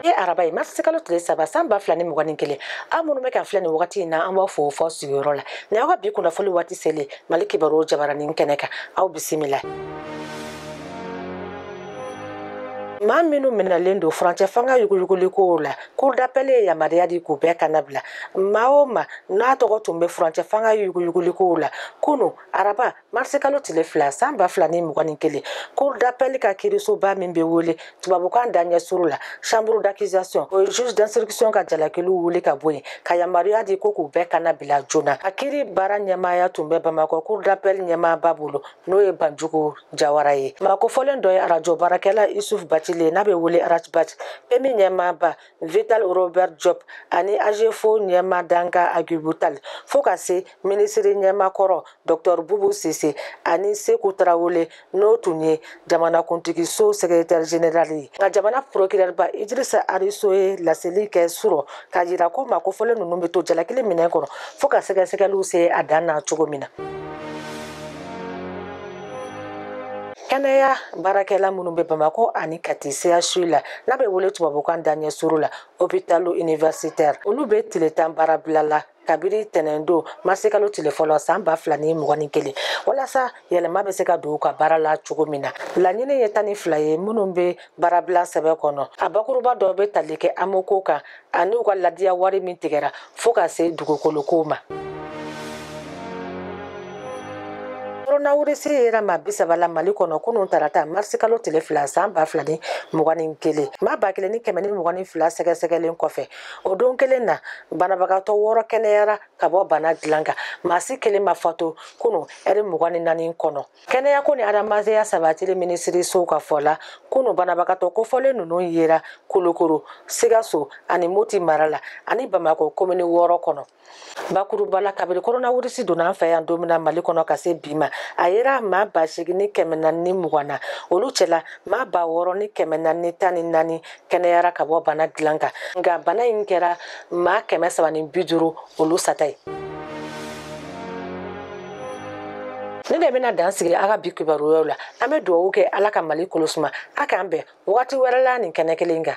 ye araba ye marisi kalo tile saba san ba fila ni mugan ni kelen aw minnu bɛ k'an filɛ nin wagati in na an b'aw fo fɔ sigiyɔrɔ la ni aw ka bi kunnafoli waati selen mali kibaru jabaranin kɛnɛ kan aw bisimila maa minnu minɛlen don furancɛ fanga yuguyuguliko la cour d'appel ye yamaruya di k'u bɛɛ kannabila maa o maa n'a tɔgɔ tun bɛ furancɛ fanga yuguyuguliko la kunu araba marisikalo tile fila san ba fila ni mugan ni kelen cour d'appel ka kirisoba min bɛ wele tubabukan daɲɛ surun la chambre d'accusation o ye juge d'instruction ka jalakiliw wuli ka bɔ yen ka yamaruya di ko k'u bɛɛ kannabila joona a kiri baara ɲɛmaaya tun bɛ bamakɔ cour d'appel ɲɛmaaba bolo n'o ye banjugu jawara ye maa kofɔlen dɔ ye arajo baarakɛla isuf batili n'a bɛ wele ras bath PMU ɲɛmaaba Vital Robert Diop ani AGEFAU ɲɛmaa dankan Agibu Tali fo ka se minisiri ɲɛmaa kɔrɔ Dr Bubu Sise ani Seku Tarawele n'o tun ye jamanakuntigi so sɛgɛretɛri jenerali ye nka jamana porokirɛriba Idirisa Arizo ye laseli kɛ surɔ k'a jira ko maa kofɔlen ninnu bɛ to jalakili minɛn kɔnɔ fo ka sɛgɛsɛgɛliw se a dan na cogo min na. kɛnɛya baarakɛla minnu bɛ bamakɔ ani kati CHU la n'a bɛ wele tubabukan daɲɛ surun la hospitalo-universitaire olu bɛ tile tan baarabila la kabiri tɛnɛn don marisikalo tile fɔlɔ san ba fila ni mugan ni kelen walasa yɛlɛma bɛ se ka don u ka baara la cogo min na laɲini ye tan ni fila ye minnu bɛ baarabila sɛbɛn kɔnɔ a bakuruba dɔ bɛ tali kɛ AMO ko kan ani u ka ladiya wari min tigɛra fo ka se dugukolokow ma koronawirisi yera maa bi saba la mali kɔnɔ kunun tarata marisikalo tile fila san ba fila ni mugan ni kelen maa ba kelen ni kɛmɛ ni mugan ni fila sɛgɛsɛgɛlen kɔfɛ o don kelen na banabagatɔ wɔɔrɔ kɛnɛyara ka bɔ bana dilan kan maa si kelen ma fatu kunun ɛri mugan ni naani kɔnɔ kɛnɛya ko ni adamadenya sabatili minisiriso ka fɔ la kunu banabagatɔ kofɔlen ninnu yera kulukoro sikaso ani moti mara la ani bamakɔ komini wɔɔrɔ kɔnɔ bakuruba la kabiri koronawirisi donna an fɛ yan don min na mali kɔnɔ ka se bi ma a yera maa ba seegin ni kɛmɛ naani ni mugan na olu cɛla maa ba wɔɔrɔ ni kɛmɛ naani ni tan ni naani kɛnɛyara ka bɔ bana dilan kan nka bana in kɛra maa kɛmɛ saba ni bi duuru olu sata ye nin de bɛna dan sigi aw ka bi kibaruyaw la an bɛ dugawu kɛ ala ka mali kolosuma a k'an bɛn wagati wɛrɛ la nin kɛnɛ kelen kan